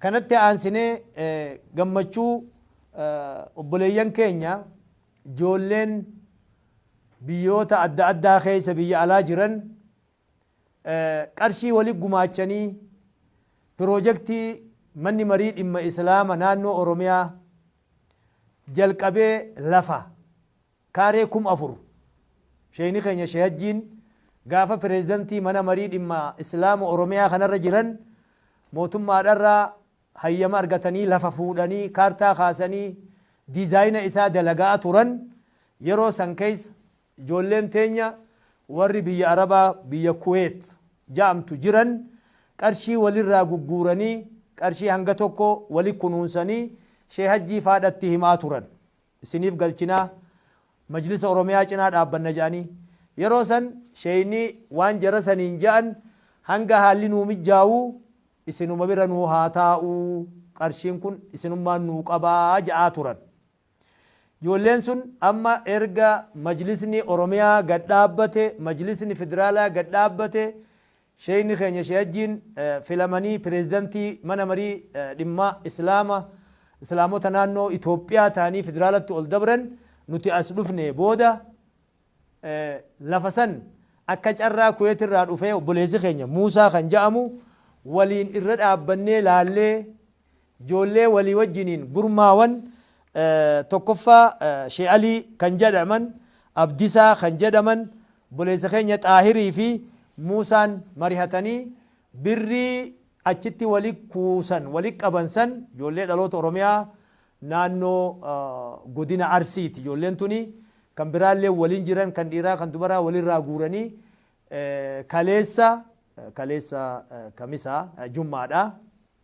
Kanatti aansinee gammachuu obboleeyyan keenya ijoolleen biyyoota adda addaa keessa biyya alaa jiran qarshii wali gumaachanii piroojektii Manni Marii Dhimma Islaama Naannoo Oromiyaa jalqabee lafa kaaree kum 4 Sheeyni keenya Sheeh Hajjiin gaafa Pireezidantii Mana Marii Dhimma Islaama Oromiyaa kanarra jiran mootummaadharraa hayyama argatanii lafa fuudhanii kaartaa kaasanii diizaayina isaa dalaga'aa turan yeroo san keessa ijoolleen teenya warri biyya Arabaa biyya Kuweet ja'amtu jiran qarshii walirraa gugguuranii qarshii hanga tokko wali kunuunsanii Sheeh Hajjii faadhatti himaa turan. isiniif galchinaa majlisa oromiyaa cinaa dhaabbanna jedhanii yeroo san sheeyni waan jara saniin jedhan hanga haalli nuu mijjaawu isinuma bira nuu haa taa'u qarshiin kun isinummaan nuu qabaa ja'aa turan ijoolleen sun amma erga majlisni oromiyaa gad dhaabbate majlisni federaalaa gad dhaabbate Sheeyni keenya Shee Hajjiin filamanii Pireezidantii Mana Marii Dhimma Islaama Islaamota Naannoo Itoophiyaa ta'anii Federaalatti ol dabran nuti as dhufnee booda lafa san akka carraa Kuweet irraa dhufee obboleessi keenya Muusaa kan ja'amu waliin irra dhaabbannee laallee Ijoollee walii wajjiniin gurmaawan tokkoffaa She Alii kan jedhaman, Abdisaa kan jedhaman, obboleessa keenya Xaahirii fi Muusaan marihatanii birrii achitti wali kuusan, wali qaban san ijoollee dhaloota Oromiyaa naannoo godina Arsiiti ijoolleen tuni. Kan biraallee waliin jiran kan dhiiraa kan dubaraa walirraa guuranii kaleessa, kaleessa Kamisaa, Jummaadha.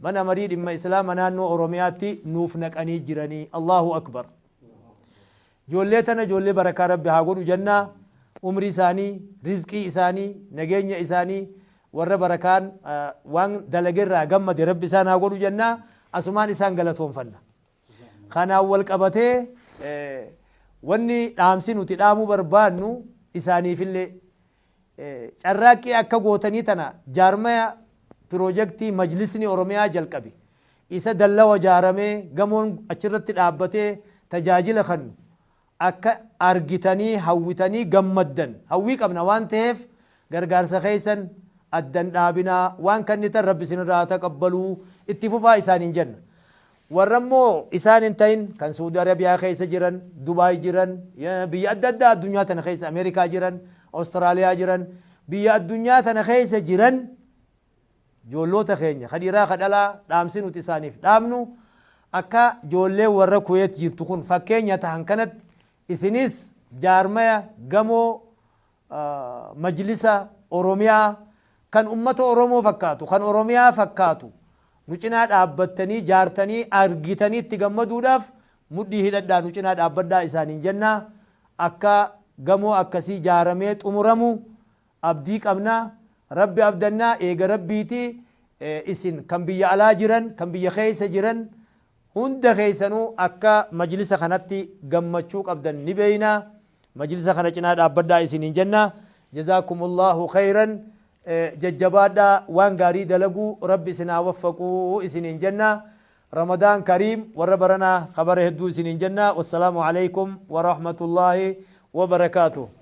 Mana marii dhimma islaama naannoo oromiyaatti nuuf naqanii jiranii Allahu Akbar Joollee tana joollee barakaa rabbi haa godhu jannaa umrii isaanii rizqii isaanii nageenya isaanii warra barakaan waan dalage irraa gammade rabbi isaan haa godhu jannaa asumaan isaan galatoonfanna kanaan wal qabatee wanni dhaamsi nuti dhaamuu barbaannu isaaniifillee Carraaqqii akka gootanii tana jaarmaya Piroojektii Majlisni Oromiyaa jalqabe isa dallawa ijaaramee gamoon achirratti dhaabbatee tajaajila kannu akka argitanii hawwitanii gammaddan hawwii qabna waan taheef gargaarsa keessan addan dhaabinaa waan kannitan Rabbi isinirraa haa taqabbaluu itti fufaa isaaniin jenna. Warra immoo isaan hin ta'in kan Suudi Arabiyaa keessa jiran, Dubai jiran, biyya adda addaa addunyaa tana keessa Amerikaa jiran, Australia jiran, biyya addunyaa tana keessa jiran joolloota keenya ka dhiraa ka dhalaa dhaamsi nuti isaaniif dhaamnu akka joolleen warra Kuwait jirtu kun fakkeenya tahan kanatti isinis jaarmaya gamoo majlisa Oromiyaa kan ummata Oromoo fakkaatu, kan Oromiyaa fakkaatu nu cinaa dhaabbattanii jaartanii argitanii itti gammaduudhaaf mudhii hidhadhaa nu cinaa dhaabbadhaa isaaniin jenna. Akka gamoo akkasii jaaramee xumuramu abdii qabna. Rabbi abdanna, eega Rabbiiti. Isin kan biyya alaa jiran, kan biyya keessa jiran Hunda keessanuu akka majlisa kanatti gammachuu qabdan ni beekna. Majlisa kana cinaa dhaabbadhaa isiniin jenna. Jazaakumullaahu kheeyran Jajjabaadhaa waan gaarii dalaguu Rabbi isin haa waffaqu isiniin jenna. Ramadaan kariim warra baranaa ka bara hedduu isiniin jenna. Wassalaamu aleykum warahmatullaahi wabarakaatuh.